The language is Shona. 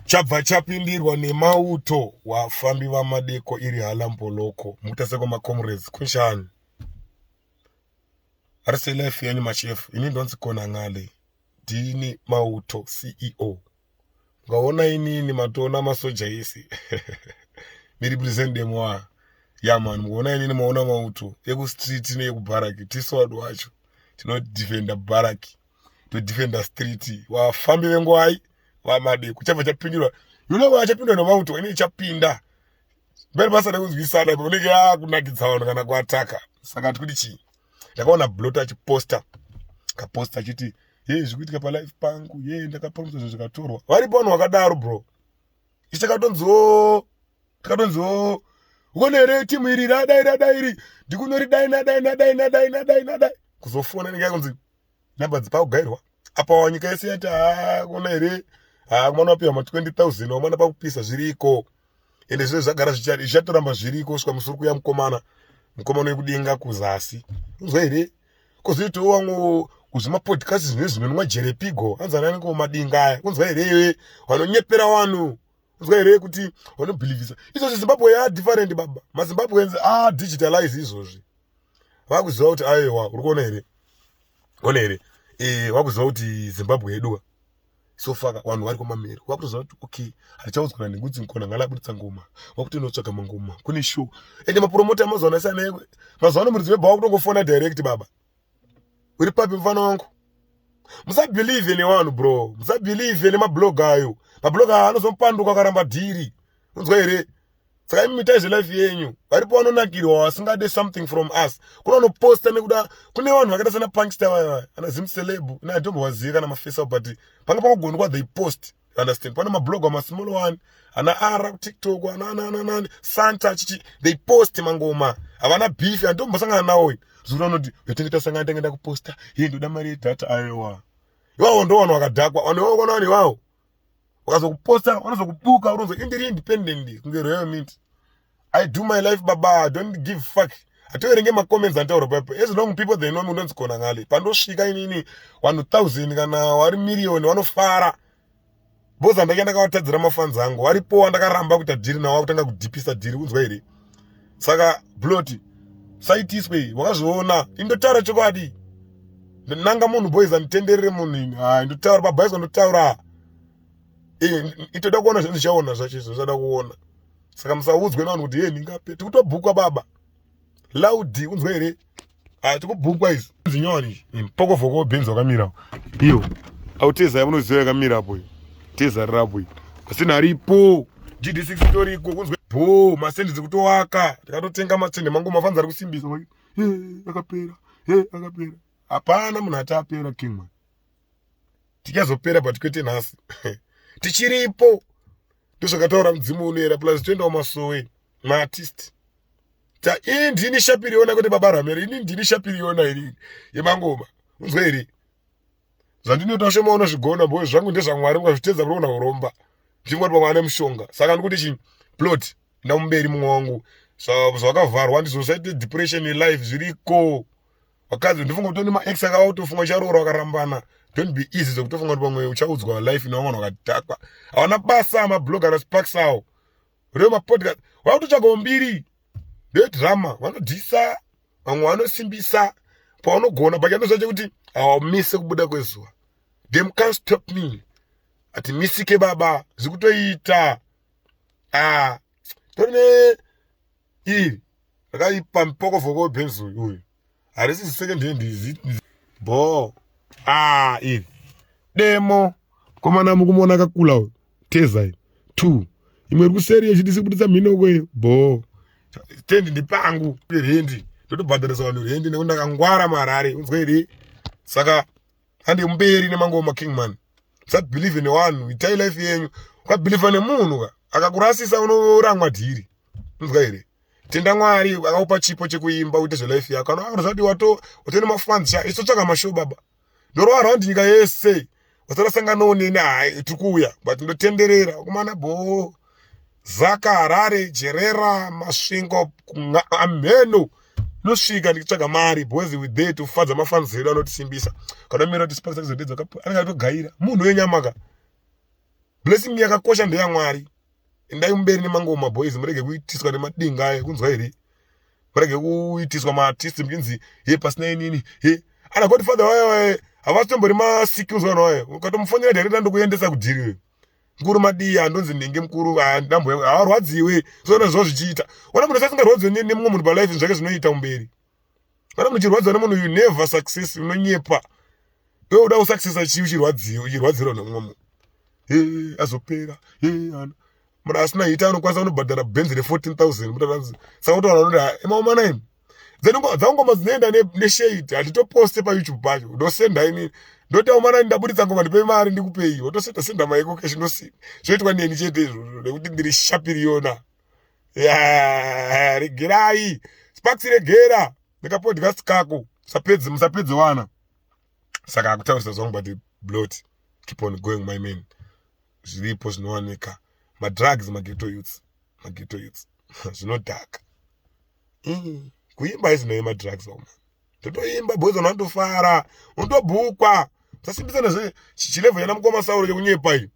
chabva chapindirwa nemauto wafambi vamadeko iri halambholoko mutaseko macomrades kunshani ari selife yenyu machefu ini ndonzi kona ngale ndini mauto ceo ngaona inini matoona masoja isi ndirepresent demoa yaman mukuona inini maona mauto ekustreet neyekubharaki tisu wadu wacho tinodefenda bharaki to defend the street vafambi vengwai vamade kuchabva chapindurwa you know vachapindwa nomauto inenge chapinda mberi basa rekunzwisana ipo unenge yakunakidza vanhu kana kuataka saka tikuti chii ndakaona blot achiposta kaposta achiti yei zvikuitika palife pangu yei ndakapromisa zvinhu zvikatorwa varipo vanhu vakadaro bro ichi takatonziwo takatonziwo ukone here timu iri radai radai iri ndikunoridai nadai nadai nadai nadai nadai kuzofona inenge yakunzi number dzipakugairwa apawa nyika yese yati haakuna here haamwana wapiwa ma 20000 wamwana pakupisa zviriko ende zve zvagara zvichatoramba zviriko kusvika musuri kuya mukomana mukomana wekudenga kuzasi unzwa here kozoitawo wamwe kuzvimapodcast zvine zvinonwa jerepigo hanzi anani komadinga aya unzwa here iwe vanonyepera vanhu unzwa here kuti vanobhilivhisa izvozvi zimbabwe ya different baba mazimbabweans a digitalize izvozvi vakuziva kuti aewa uri kuona here one here eh, vakuziva kuti zimbabwe yeduwa so faka vanhu vari kwamamiri wakutoziva kuti okay hatichaudzwa nengudzi nkona ngala abuditsa ngoma wakutonotsvaga mangoma kune show ende mapromota amazuva ano sana ekwe mazuva ano muridzi webhawa kutongofona direct baba uri papi mufana wangu musabhilive nevanhu bro musabhilive nemablog ayo mablog ayo anozomupanduka akaramba dhiri unzwa here saka imi mitai zvelife yenyu varipo vanonakirwa vasingade something from us kuna vanoposta nekuda kune vanhu vakaita sana punkster vaya ana zim celeb ina atombovazive kana mafesa but panga pakugona kwa they post understand pane mablog amasmall one ana ara kutiktok ananananani santa chichi they post mangoma havana beef andombosangana nawo zura unoti yotenge tasangana tenge ndakuposta iye ndoda mari yedhata ayowa iwawo ndo vanhu vakadhakwa vanhu iwawo kona vanhu iwawo ukazokuposta vanozokubuka uronzo indiri independent kunge royal mint i do my life baba don't give fuck hatoverenge macomments antaura papo as long people they know me unonzi kona ngale pandosvika inini vanhu thousand kana wari million vanofara boza ndake ndakavatadzira mafanzi angu varipowa ndakaramba kuita dhiri nawo akutanga kudhipisa dhiri unzwa here saka blot saitiswe wakazviona indotaura chokwadi nanga munhu boys anditenderere munhu ini ha ndotaura pabhaiswa ndotaura itoda kuona zvandichaona zvacho izvo zvada kuona saka musaudzwe navanhu kuti ye ndingape tikutobhukwa baba laudi unzwa here ah, tikubhukwa izi zinyoni pokofoko bhinzi wakamira iyo auteza yamunoziva yakamira apo teza rirapo asina aripo gd6 itoriko kunzwa bho masendi dzikutowaka ndikatotenga matsende mangu mafanzi ari kusimbisa wai akapera akapera hapana munhu ati apera king man tichazopera but kwete nhasi tichiripo ndozvakataura mudzimu unoera plus toendawo masowe maartist ta ini ndini shapiriona kuti baba ramere ini ndini shapiriona ini yemangoma unzwe here zvandinoita shoma unozvigona bo zvangu ndezvamwari mukazvitedza munoona uromba ndingoti pamwe ane mushonga saka ndikuti chi plot ndamuberi mumwe wangu zvakavharwa ndizosaite depression yelife zviriko vakadzi ndofunga kuti nema ex akava kutofunga ucharoora wakarambana don't be easy zvekutofunga kuti pamwe uchaudzwa life inova vanhu vakadhakwa havana basa mabloga nasparks awo uriwe mapodcast wakutotsvagawo mbiri ndedrama vanodhisa vamwe vanosimbisa paunogona but chandozva chekuti haumise kubuda kwezuva them can stop me ati misike baba zvikutoita ah tone iri rakaipa mpokovoko webhenzi uyu harisi second hand izi bho ah iri demo komana mukumuona akakula uyu tezai two imwe iri kuseri yechidisi kubuditsa mhinoko iyo bho tendi ndipangu rendi ndotobhadharisa vanhu rendi nekuti ndakangwara marari unzwa here saka hande mberi nemangoma kingman musabhilivhe newanhu itai life yenyu ukabhilivha nemunhu ka akakurasisa unoramwa dhiri unzwa here tenda mwari akakupa chipo chekuimba uite zvelife yako anozvadi wato watone mafans sha iso tsvaka mashow baba ndorova around nyika yese wasarasanganawo neni hai tiri kuuya but ndotenderera kumana bhoo Zaka Harare Jerera Masvingo Amheno nosvika ndichitsvaga mari boys with there to fadza mafans edu anotisimbisa kana mira tisipasa kuzodedzwa kapo anenge atogaira munhu wenyama ka blessing yakakosha ndeya Mwari endai mumberi nemangoma boys murege kuitiswa nemadinga ayo kunzwa here murege kuitiswa maartist muchinzi he pasina inini he ana godfather wayo waye havasi tombori masikills vanhu waye ukatomufonera director ndokuendesa kudhiri mkuru madii handonzi ndenge mkuru ndambo hawarwadziwe zvoona zvo zvichiita ona munhu sasingarwadziwe nemumwe munhu palife zvake zvinoita umberi kana munhu uchirwadziwa nemunhu you never success unonyepa iwe uda kusuccessa chii uchirwadziwa uchirwadzirwa nemumwe munhu e azopera e ana munhu asina hita anokwanisa kunobhadhara benzi re 14000 mutaanzi saka utoona kuti emaomana imi then dzangoma dzinoenda neshade handitoposte payoutube pacho ndosenda ini ndoti aumana ndaburitsa ngoma ndipe mari ndikupei wotosenda senda maiko keshe ndosina zvoitwa neni chete izvozvo nekuti ndiri shapiriyona regerai sparks regera nekapodcast kako musapedze musapedze wana saka akutaurisa zvangu but blot keep on going my man zviripo zvinowanika madrugs mageto youths mageto youths zvinodhaka mm. kuimba isinei madrugs oma totoimba boys vanhu vanotofara unotobhukwa musasimbisana zve chilevo yana mukoma sauro chekunyepa iyi